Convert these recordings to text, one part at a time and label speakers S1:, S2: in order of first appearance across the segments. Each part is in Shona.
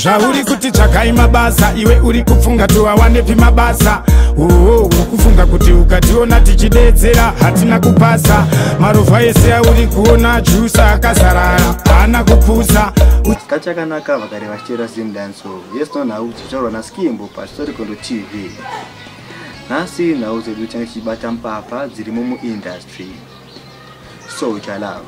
S1: zvauri kuti tsvagai mabasa iwe uri kupfunga tiwawanepi mabasa oo uri kufunga kuti ukationa tichidedzera hatina kupasa marovha ese auri kuona jusa akazarara haana kupusa kachakanaka
S2: vakare vachiteera sim danso yes no nhau dzichitaurwa naskimbo pastorikondo tv nhasi nhau dzedu tinge tichibata mpapa dzirimo muindustry so chalove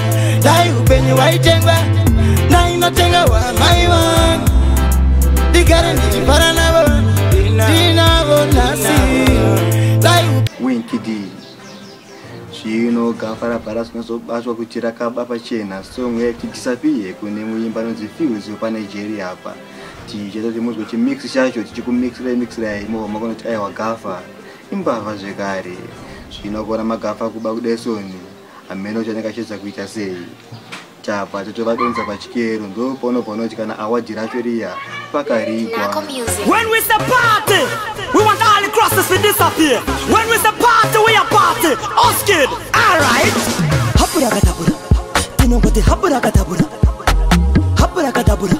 S3: dai upenyu waitengwa ndainotenga wamai vangu ndigare ndichifara navo ndinavo nhasi dai
S2: winkidi zvino gafa rabhara zvinozobatwa kuti rakaba pachena song yati disappear kune muimba anonzi fields wepanigeria apa tichaita kuti muzwe chimix chacho tichikumixira imixira imova makona kuti aiwa gafa imbavha zvekare zvino kuona magafa kuba kudesoni hameno kuti anenge achiedza kuita sei tabva totovadonza pachikero ndopaunobva unoti kana awadhi racho riya pakarigwa When we say
S4: party, we want all the crosses to disappear. When we say party, we are party. Us kid, alright. Hapura kadabura, tinongoti hapura kadabura, hapura kadabura.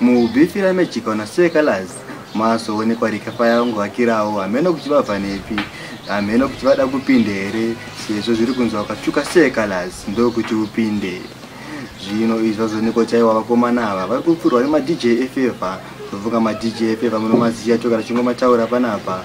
S2: Mubifira mechika una sue colors mazoonekwa rika faya ungovakirawo hameno kuti vabva nepi hameno kuti vada kupinde here sezvo zviri kunzi wakatsvuka sue colors ndokuti upinde zvino izvi vazoonekwa chaiwa vakomana ava vari kupfurwa nemadj efevha ndofunga madj efevha munomaziya toka tichingomataura panapa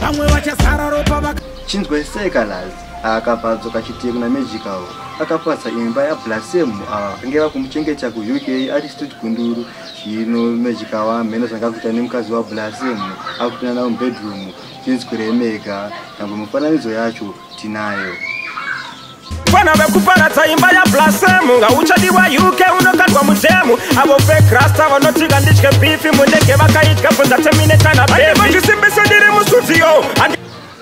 S5: vamwe vachasara ropa vaka chinzwai sei
S2: kalazi akabva adzoka chitiye kuna magical akapatsa imba yablasem ava vakange vakumuchengeta kuuk ari stut gunduru zvino magical amheno zvanga kuita nemukadzi wablasem akutinana mubedroom chinzwirei mega nyangwe mufananidzo yacho tinayo
S1: Vana vekuparadza imba yablasemu ngauchadiwa uk unokandwa mudhemu avo vekrasta vanotika nditye bifi mundege vakaidya bvunza temine kana beviandivozvisimbise ndiri musudziyo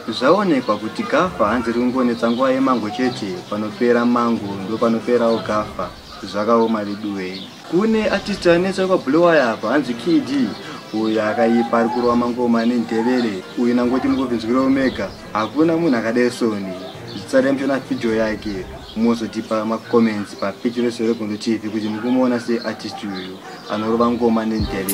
S2: zvaonekwa kuti gafa hanzi rikungonetsa nguva yemango chete panopera mango ndopanoperawo gafa zvakaoma veduwei kune artist anetsa kwa blowaya apa hanzi kd uyu akaipa ari kurova mangoma nendevere uyu nangoti mukovinzwira omega hakuna munhu akadai soni zvisare mchona video yake mozotipa macomments papeji resoregondo tv kuti mukumuona seartist uyu anorova ngoma nendevere